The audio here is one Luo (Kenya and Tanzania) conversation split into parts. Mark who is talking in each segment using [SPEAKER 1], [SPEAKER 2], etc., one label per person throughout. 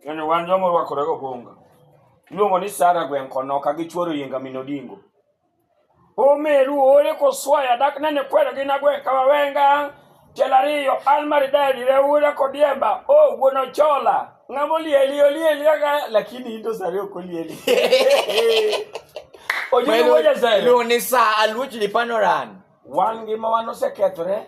[SPEAKER 1] Kendo wan joma orwakore gobonga. Iluongo ni Sara gweng' kono ka gichuoro yinga min odingo. Omeru ore koswaya dak nene kwero gi nagweng' ka wawenga. Tiel ariyo an maridadi reura kodiemba. O wuon ochola. Ng'ama olieli olieli aga lakini in to sare ok olieli. Ojudu wuoja sare. Iluongo ni sa aluoch lipanoran. Wan ngima wan osekethore.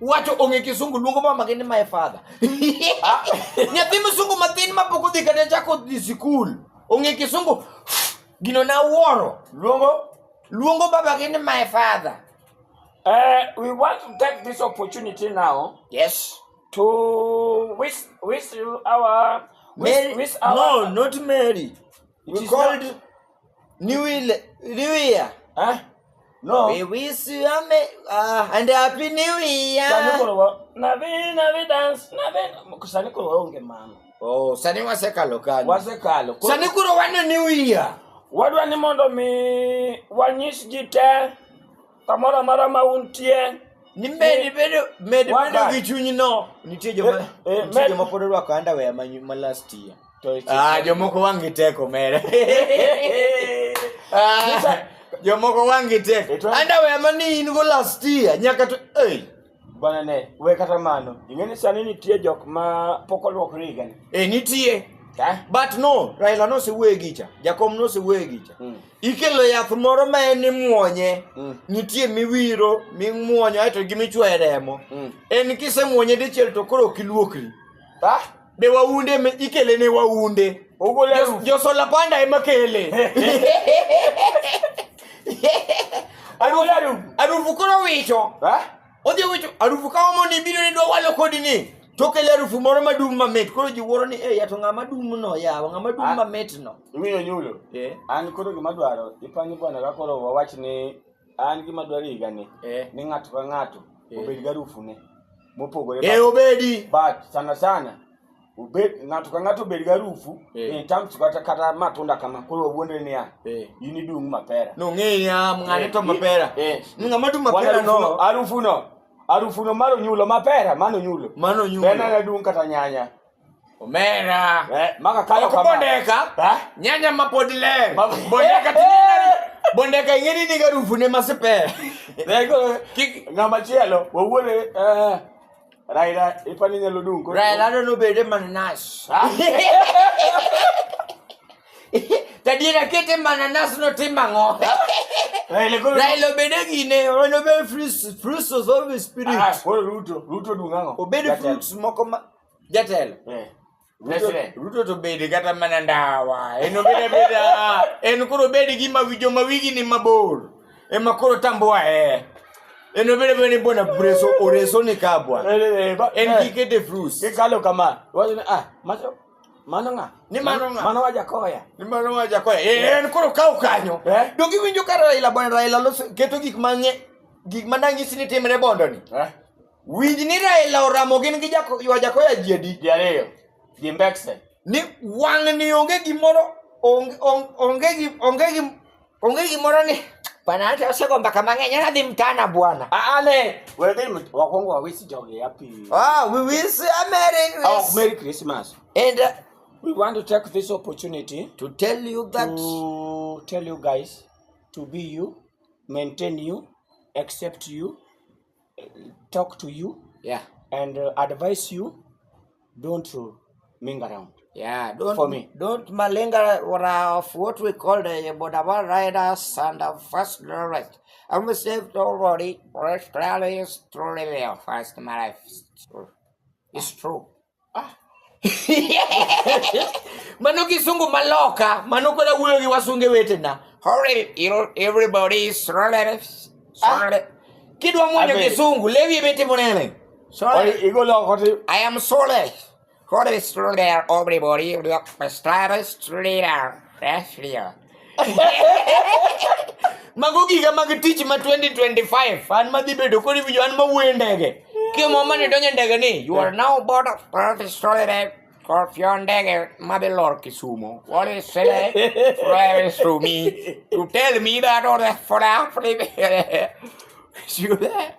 [SPEAKER 1] wacho ong'e kisungu luongo mama gi ni my father nyathi msungu matin ma pok odhi kata chako dhi sikul ong'e kisungu gino na wuoro luongo luongo baba gi ni my father Uh, we want to take this opportunity now yes to wish wish you our wish, Mary, wish our no not mary we We called New Year. New Year. Huh? No. We wish you a me, uh, and happy new year. Nabi, nabi dance, nabi. Kusani kuro waunge mama. Oh, sani wasekalo kanyo. Wasekalo. Sani kuro wane new year. Wadwa ni mondo mi wanyis ji te Kamoro amora ma untie. Ni med eh, bedo med bedo gi chuny no. Nitie joma eh, eh, nitie joma pod orwako underwear ma ma last year. Ah, jomoko wang' gi teko mere. Ah, jomoko wang' gi teko. Underwear ma ni in go last year nyaka to. Hey. Bwana ne, we kata mano. Ing'e ni sani nitie jok ma pok olwokre higa ni. E nitie. Ta? But no, Raila nosewuoye gicha, Jakom nosewuoye gicha. Mm. Ikelo yath moro ma en imwonye, Mm. nitie miwiro, mimwonyo, aeto gimichwoye remo. Mm. En kisemwonye dichiel to koro ok iluokri. Ta? be waunde eme- ikele ne waunde Ogol elfu. josola panda ema kele Ogol elfu. arufu koro wicho Eh? odhi wicho arufu ka omo ni biro ni dwa walo kodi ni tokele arufu moro madum mamit koro ji wuoro ni e yato ng'ama dum no yawa ng'ama dum Ah. mamit no Iwinjo nyulo. Eh. An koro gima dwaro ipangi bwana ka koro wawach ni an gima dwaro higa ni eh. ni ng'ato ka ng'ato eh. obed garufu ne mopogore eh, obedi but sana sana obed ng'ato ka ng'ato obed garufu eh. in terms kata kata matunda kama koro wuonde ni ya eh. in idung mapera no ng'eya ng'ane eh, to mapera eh. ng'ama dung mapera no harufu no harufu no maro nyulo mapera mano nyulo mano nyulo tena na dung kata nyanya Omera. Eh, maka kayo kama. Bondeka. Eh? Nyanya mapodile. Bondeka tinene. Bondeka ingeni ni garufu ne masepe. Lego kik ngama chielo wawuore eh Raila ipani nyalo dung ko. Raila no bede mananas. Ah. Tadira kete mananas no timango. Raila obede gine, ono be fruits, fruits of the spirit. Ah, Ruto, Ruto dung'ango. Obede fruits moko ma Jatelo. Eh. Ruto to bedi kata mana ndawa. En obeda beda. En koro bedi gi mawijo mawigi ni mabor. Ema koro tamboa eh. En obeda bedi bona breso oreso ni kabwa. Eh, eh, eh, en eh. kikete fruits. Kikalo kama. Wacho ah, macho mano ng'a ni mano ng'a mano wajakoya ni mano wajakoya eh, en koro kaw kanyo eh? dong iwinjo ka raila bwana raila loso keto gik mang'e gik manang'isi ni timre bondoni eh? Winj ni Raila oramo gin gi jako, ywa Jakoya ji adi? Ji ariyo. Ji mbekse. Ni wang'ni onge gimoro onge onge onge gi onge gi onge gimoro ni bana hata osego mbaka mang'eny ana dhi mtana bwana. Ah, Ale, wewe dhi mt- wakwongo wawisi jogi happy. Ah, we will see a Merry Oh, Christmas. Merry Christmas. And uh, We want to take this opportunity to tell you that to tell you guys to be you, maintain you, accept you, talk to you yeah and uh, advise you don't uh, ming around yeah don't for me don't malinga what are of what we call the bodaba riders and the first right i'm a saved already for australia australia first my life it's true mano kisungu maloka mano kweda wuoyo gi wasunge wetena ah. kidwa mwonyo kisungu lewi emetimo nene i am sole What is true there, everybody? Look, Mr. True there. That's real. mago giga mag tich ma 2025 an madhi bedo kod winjo an mawuoyo e ndege kimo mane donjo e ndege ni you are now board of professional Scorpion Dagger, Mother Lord Kisumo. What is said friends to me to tell me that all that for Africa. See that?